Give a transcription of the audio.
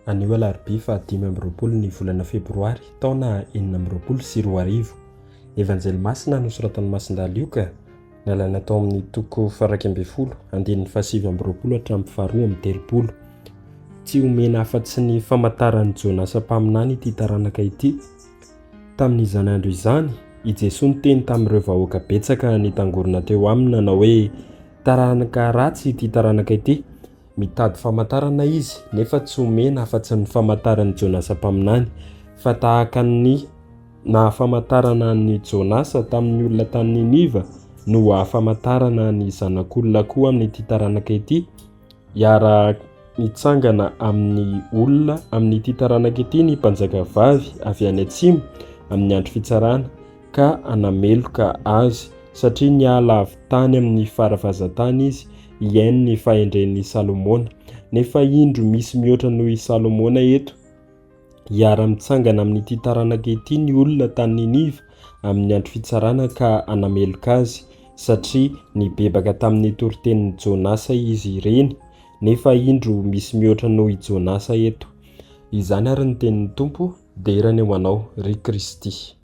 Anio alarobia faha dimy amby roapolo ny volana febroary taona enina amby roapolo sy roa arivo. Evanjely masina nosoratan'i Masindà Lioka, nalaina tao amin'ny toko faharaika ambin'ny folo, andininy fahasivy amby roapolo hatramin'ny faharoa amby telopolo. Tsy omena afa-tsy ny famantaran'i Jonasa mpaminany ity taranaka ity. Tamin'izany andro izany, i Jesoa niteny tamin'ireo vahoaka betsaka nitangorona teo Aminy nanao hoe, Taranaka ratsy ity taranaka ity! Mitady famantarana izy, nefa tsy omena afa-tsy ny famantaran'i Jonasa mpaminany, fa tahaka ny nahafamantarana an'i Jonasa tamin'ny olona tany Niniva no hahafamantarana ny Zanak'Olona koa amin'ity taranaka ity, Hiarahako mitsangana amin'ny olona amin'ity taranaka ity ny mpanjaka vavy avy any atsimo amin'ny andro fitsarana ka hanameloka azy satria niala avy tany amin'ny faravazan-tany izy hihaino ny fahendren'i Salomona. Nefa indro misy mihoatra noho i Salomona eto. Hiara-mitsangana amin'ity taranaka ity ny olona tany Niniva amin'ny Andro Fitsarana ka hanameloka azy, satria nibebaka tamin'ny toritenin'i Jonasa izy ireny, nefa indro misy mihoatra noho i Jonasa eto. Izany àry ny tenin'ny Tompo, Dera ny ho anao, ry Kristy!